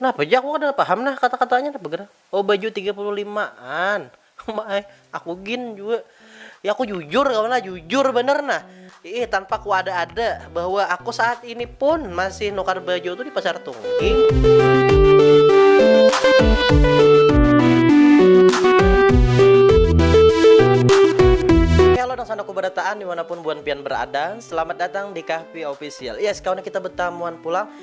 Napa ja aku kada paham nah kata-katanya napa gerang. Oh baju tiga puluh lima an. Uma ai, aku gin jua. Ya aku jujur kawan lah, jujur bener nah. Ih tanpa kuada-ada bahwa aku saat ini pun masih nukar baju tu di pasar tungging. Hello nang sanak kubarataan dimanapun buan pian berada, selamat datang di Kahpi Official. Yes kawan kita betamuan pulang.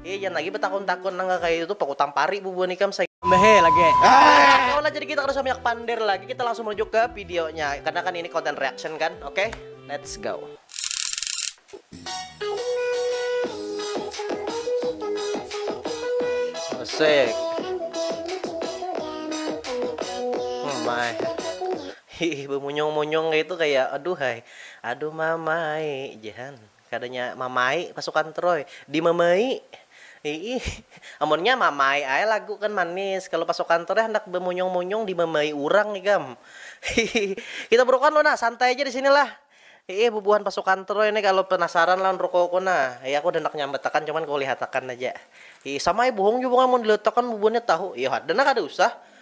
Hei jangan lagi betakun-takun nang kaya itu aku tampari bubuhan ikam saya. Mehe lagi. Oke lah jadi kita kada usah banyak pander lagi kita langsung menuju ke videonya karena kan ini konten reaction kan oke okay? let's go. Asik. Oh my. Hihi bemunyung-munyung itu kayak aduh hai. Aduh mamai, jangan. Kada nya mamai pasukan troy di mamai iih amun nya mamai ae lagu kan manis kalu pasukan troy handak bamunyung munyung di mamai urang ikam hihihi kita burukan lu nah santai ja disini lah iih bubuhan pasukan troy nih kalu penasaran lawan rukoku nah iih aku handak nyambatakan cuman ku lihatakan aja iih sama ai buhung jua pang amun diliatakan bubuhannya tahu iih ada nah kada usah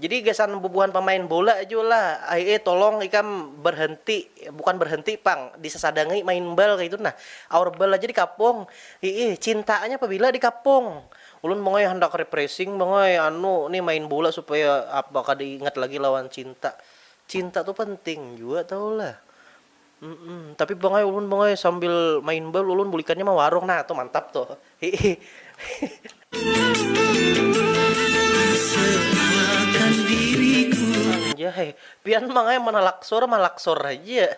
Jadi gasan bubuhan pamain bola jua lah ai eh tolong ikam berhenti bukan berhenti pang disasadangi main bal kaitu nah aur bal aja dikapung hiih cintaanya pabila dikapung ulun mongoi handak repressing mongoi anu ni main bola supaya apa kada ingat lagi lawan cinta cinta tu penting jua tahu lah. Mm-mm. Tapi bang ay, ulun bang ay, sambil main bal ulun bulikannya ma warung nah tuh mantap tuh. Hihi. Anjay, pian bang ay manalaksur malaksur haja.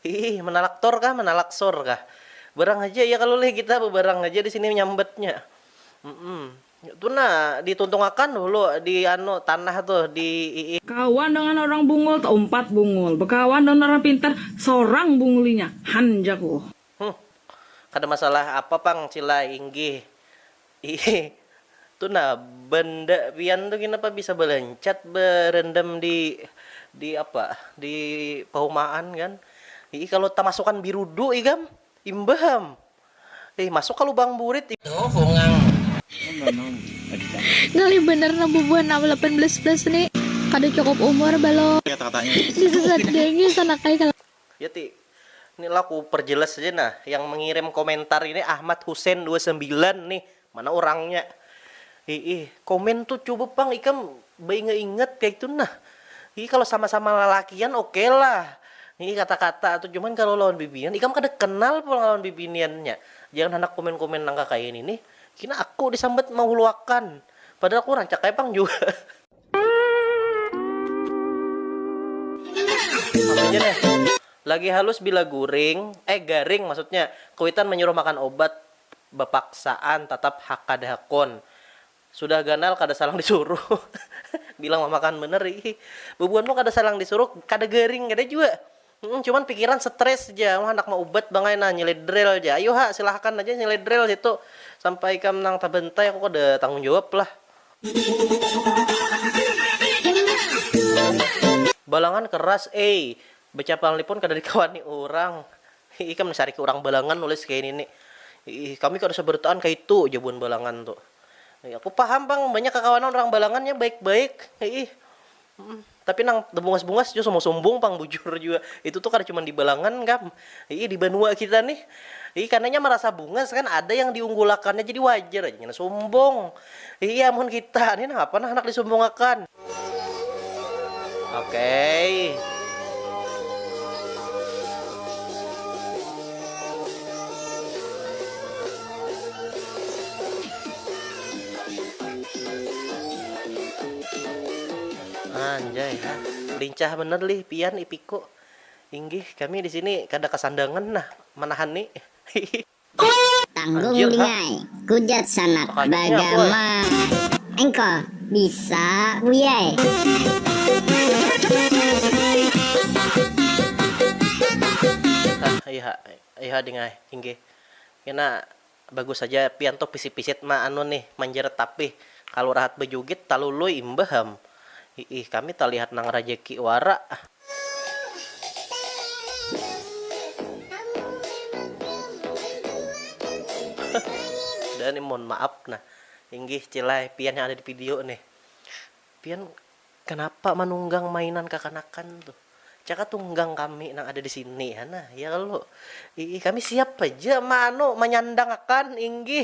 Hihi, manalaktor kah, manalaksur kah. Barang haja ya kalu leh kita bebarang haja di sini nyambatnya. Mm-mm. Tu nah, dituntungakan hulu di anu tanah tuh di ii. Kawan dengan orang bungul taumpat bungul, bekawan dengan orang pintar sorang bungul inya, han jaku. Huh, kada masalah apa pang Cila inggih ii. Tu nah, benda pian tu kenapa bisa balancat berendam di di apa di pahumaan kan ii, kalu tamasukan birudu ikam imbah am. Ih masuk ka lubang burit ih. Duh bungang. Ngalih banar nah bubuhan am lapan belas plus ni, kada cukup umur balum. Disesat dengki sanak ai kalakuan. Ya ti, ni lah ku perjelas haja nah, yang mengirim komentar ini Ahmad Husein dua sambilan nih, Mana urangnya. Hiih. Komen tuh coba pang ikam bainga ingat kaitu nah. Hiih kalo sama sama lalakian oke lah. Hiih kata kata tuh cuman kalo lawan bibinian ikam kada kenal pulang lawan bibinian nya. Jangan handak komen komen nang kakaini nih. Kina aku disambat mahuluakan. Padahal aku rancak ai pang jua. Apa ja nih. Lagi halus bila guring, eh garing maksudnya. Kuitan manyuruh makan obat. bapaksaan tatap hakada hakun. Sudah ganal kada salang disuruh bilang mamakan banar ih. Bubuhan pun kada salang disuruh kada garing kada jua. Cuman pikiran stress ja um handak maubat bangai nah nyeledrel ja. Ayu ha silahakan aja nyeledrel situ sampai ikam nang tabantai aku kada tanggung jawab lah. Balangan keras ai. Bacapalni pun kada dikawani urang. Hi ikam dasar ikam urang balangan nulis kaya ini ni. Iih kami kada sabarataan kaitu ja buhan balangan tu. Iih aku paham pang banyak kakawanan urang balangan nya baik baik iih tapi nang tabungas bungas jua sombong sombong pang bujur jua itu tu kada cuman di balangan kam iih di banua kita nih iih karna nya marasa bungas kan ada yang diunggulakannya jadi wajar aja ngena sombong. Iya mun kita nih napa nah handak disumbungakan. Okey. Anjay ha, lincah banar lih pian ipiku. Inggih kami di sini kada kasandangan nah manahani. Tanggung dingai, kujat sanak bagama. Engko bisa buyai. Hah iha iha dingai inggih kena bagus haja pian tuh pisit pisit ma anu nih manjerat tapih kalu rahat bajugit talului imbah am. Hiih kami talihat nang rajeki wara. Udah nih mohon maaf nah. Inggih cilai pian yang ada di video nih. Pian kenapa manunggang mainan kakanakan tuh. Caka tunggang kami nang ada di sini ha nah ya kalu. Hiih kami siap haja ma anu manyandang akan inggih.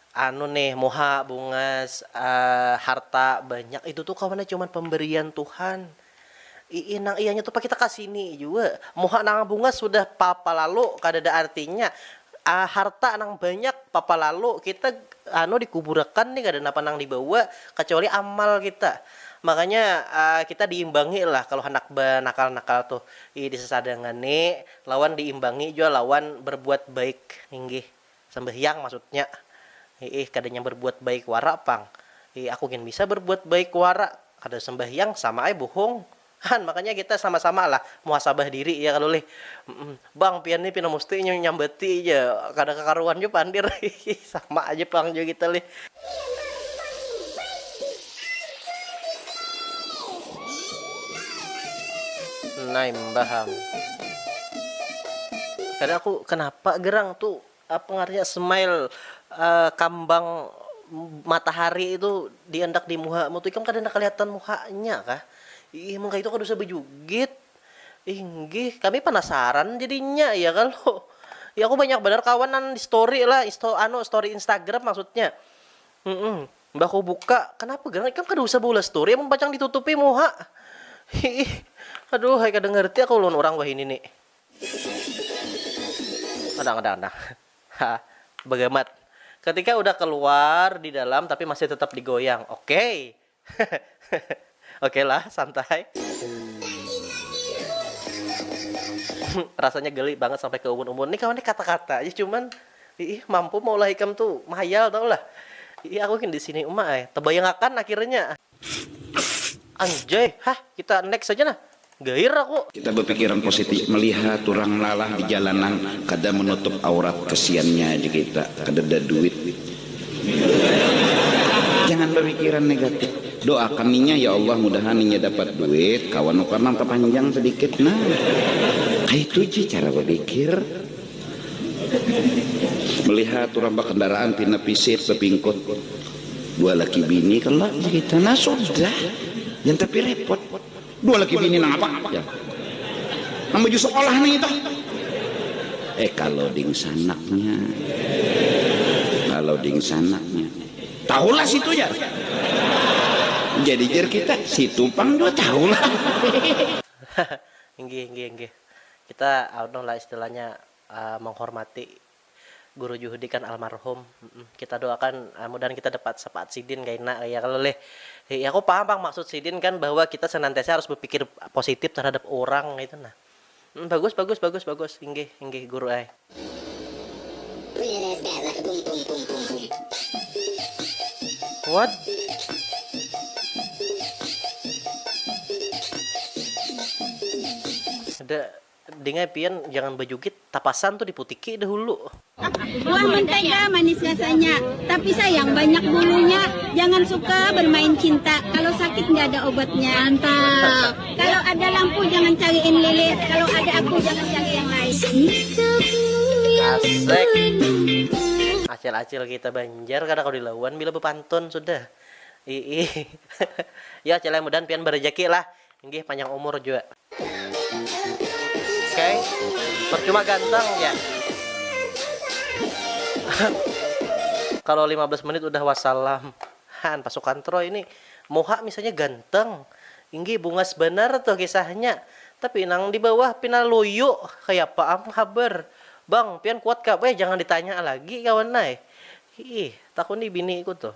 Anu nih muha bungas harta banyak itu tu kawannya cuman pemberian Tuhan ii nang ianya tu pakita kasini jua muha nang bungas sudah papa lalu kadada artinya harta nang banyak papa lalu kita anu dikuburakan nih kada napa nang dibawa kacuali amal kita makanya kita diimbangi lah kalo handak banakal nakal tu ii disasadangani lawan diimbangi jua lawan berbuat baik inggih Sambahyang maksudnya, hiih kadanya barbuat baik wara pang, hiih aku gin bisa barbuat baik wara kada sambahyang sama ai buhung han makanya kita sama sama lah muhasabah diri ya kalo lih bang pian ni pina musti inya nyambati ja kada kakaruan ja pander hiih sama aja pang jua kita lih. Nah, baham. Kadang aku kenapa gerang tuh apa ngarnya smile uh, kambang matahari itu diendak di muha mu tuh ikam kada kelihatan muhanya kah? Ih, mengka itu kada usah bejugit. Inggih, kami penasaran jadinya ya kalau. Ya aku banyak benar kawanan di story lah, isto, anu story Instagram maksudnya. Mm -mm. Mbah ku buka, kanapa gerang ikam kada usah baulah story amun pacang ditutupi muha. Hiih. Aduh ai kada ngerti aku lawan urang wahini ni. Andang andang andang. Hah. Bagamat. Ketika udah keluar di dalam tapi masih tetap digoyang. Okey. Oke lah, santai. Rasanya geli banget sampai ke umun-umun. Nih kawan nih kata-kata aja cuman iih mampu maulah ikam tu mahayal tahu lah. Iih aku gin di sini uma ai. Tebayangakan akhirnya. Anjay, hah kita next aja nah. Gair aku. Kita bapikiran positif, melihat urang lalah di jalanan kada menutup aurat kesiannya aja kita kadada duit. Jangan bapikiran negatif. Doakan inya ya Allah mudahan inya dapat duit kawa nukar nang tapanjang sedikit nah. Kaitu ja cara bapikir. Melihat urang bakendaraan pina pisit bapingkut dua laki bini kalo aja kita nah sudah jangan tapi repot. Dua laki bini nang apa? Jar. Nang baju sekolah nih itu. Eh kalau dingsanaknya. Kalau dingsanaknya. Tahulah situ jar. Jadi jar kita, situ pang juga tahulah. Inggih, inggih, inggih. Kita anu lah istilahnya uh, menghormati Guru juhudi kan almarhum kita doakan mudahan kita dapat sapaat sidin kaina ya kalo leh ya aku paham pang maksud sidin kan bahwa kita senantiasa harus bepikir positif terhadap orang kaitu nah bagus bagus bagus bagus inggih inggih guru ai. What? Dingai pian jangan bajugit, tapasan tu diputiki dahulu. Buah mentega manis rasanya, tapi sayang banyak bulunya, jangan suka bermain cinta, kalau sakit nggak ada obatnya. Kalau ada lampu jangan cariin lilit, kalau ada aku jangan cari yang lain. Acil-acil kita Banjar kada kawa dilawan bila bepantun sudah. Iih. Yo acil ai mudahan pian barejaki lah. Inggih panjang umur jua. Oke. Okay. Percuma ganteng ya. Kalau 15 menit udah wassalam. Han pasukan Troy ini muha misalnya ganteng. Inggih bungas benar tuh kisahnya. Tapi nang di bawah pina luyu. Kayak apa am haber. Bang, pian kuat kah? Eh, jangan ditanya lagi kawan nai. Ih, takuni biniku tuh.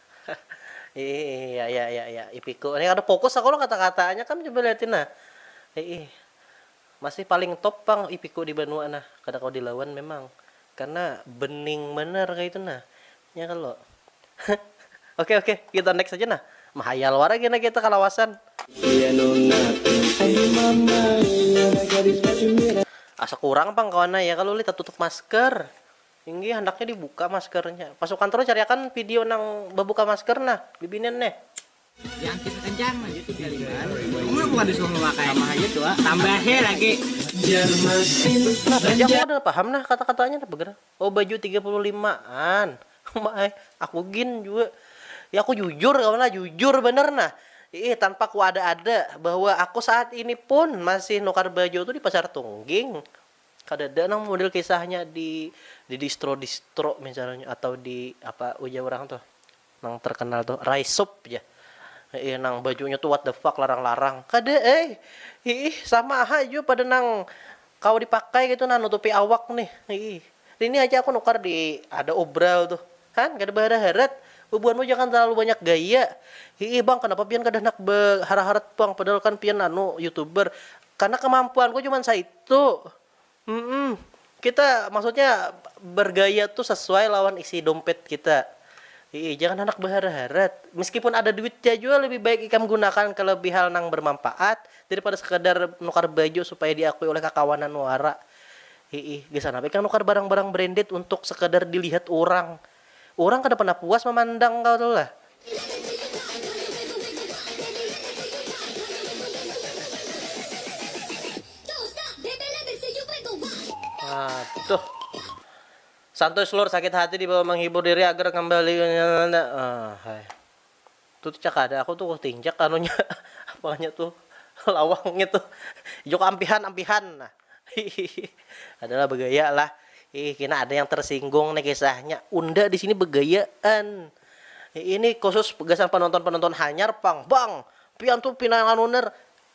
Iih ya ya ya ya ipiku nih kada fokus aku lo kata kataannya kam coba liatin nah iih masih paling top pang ipiku di banua nah kada kawa dilawan memang karena bening banar kaitu nah nya kalo oke oke kita next aja nah mahayal wara kena kita kalawasan. Asa kurang pang kawan ai ya kalo ulih tatutup masker. Inggih handaknya dibuka maskernya. Pasukan Troy cariakan video nang babuka masker nah bibinian neh. Diangkit sakencang haja tu galingan. Umur bukan disuruh memakai. Sama haja tu ah. Tambahe lagi. Nah saja aku kada paham nah kata-katanya napa gerang. Oh baju tiga puluh lima an. Uma ai. Aku gin jua. Ya aku jujur kawan lah. Jujur banar nah. Iih tanpa kuada-ada bahwa aku saat ini pun masih nukar baju tu di Pasar Tungging. Kadada nang model kisahnya di di distro distro misalnya atau di apa ujar orang tuh nang terkenal tuh rice soup ja Iya nang bajunya tuh what the fuck larang-larang. Kada eh. Ih, sama ha jua pada nang kawa dipakai gitu nah nutupi awak nih. Ih. Ini aja aku nukar di ada obral tuh. Han, kada bahara-harat. Bubuhanmu jangan terlalu banyak gaya. Ih, bang, kenapa pian kada handak bahara-harat, bang? Padahal kan pian anu youtuber. Karena kemampuanku cuman saitu. Humm. Kita maksudnya bergaya tu sesuai lawan isi dompet kita. Hiih, jangan handak beharat-harat. Meskipun ada duitnya jua lebih baik ikam gunakan ke lebih hal nang bermampaat daripada sekadar nukar baju supaya diakui oleh kakawanan wara. Hiih, gasan apa ikam nukar barang-barang branded untuk sekadar dilihat urang. Urang kada pernah puas mamandang kau tu lah. Aduh. Santuy slur sakit hati dibawa menghibur diri agar kembali ke nyata. Ahai. Tu tu cakada aku tu kutinjak anunya apanya tu lawangnya tu juk ampihan ampihan nah hihihi adalah bagaya lah hiih kina ada yang tersinggung nih kisahnya unda di sini bagayaan ini khusus gasan penonton penonton hanyar pang bang pian tu pina anu ner.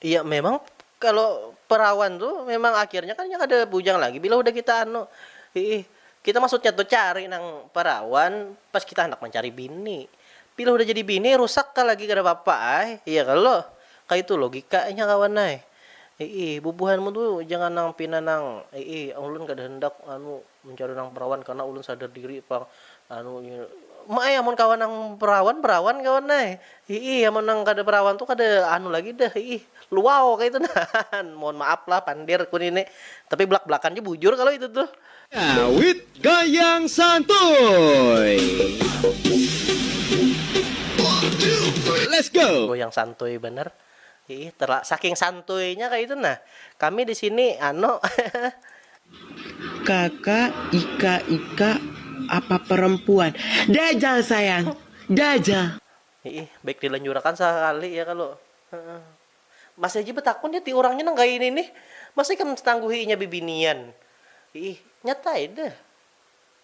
Iya memang kalo perawan tu memang akhirnya kan inya kada bujang lagi bila hudah kita anu hiih kita maksudnya tu cari nang perawan pas kita handak mancari bini bila hudah jadi bini rusak ka lagi kada papa ai iya kalo kaitu logikanya kawan ai hiih bubuhanmu tu jangan nang pina nang hiih ulun kada handak anu. Mencari nang perawan karna ulun sadar diri pang anu ma ai amun kawa nang perawan perawan kawan ai hiih amun nang kada perawan tu kada anu lagi dah hiih luau kaitu nah mohon maaf lah pandir ku nini tapi belak belakan ja bujur kalo itu tuh. Awit gayang santuy. Let's go. Goyang santuy banar. Iih terla saking santuinya kaitu nah kami di sini ano hehe. Kaka, ika, ika, apa perempuan. Dajal sayang, dajal. Iih baik dilanjurakan sakali ya kalu heeh. Masih haja betakun ya ti urangnya nang kaya ini nih, masa ikam tangguhi inya bibinian. Iih nyata ai deh.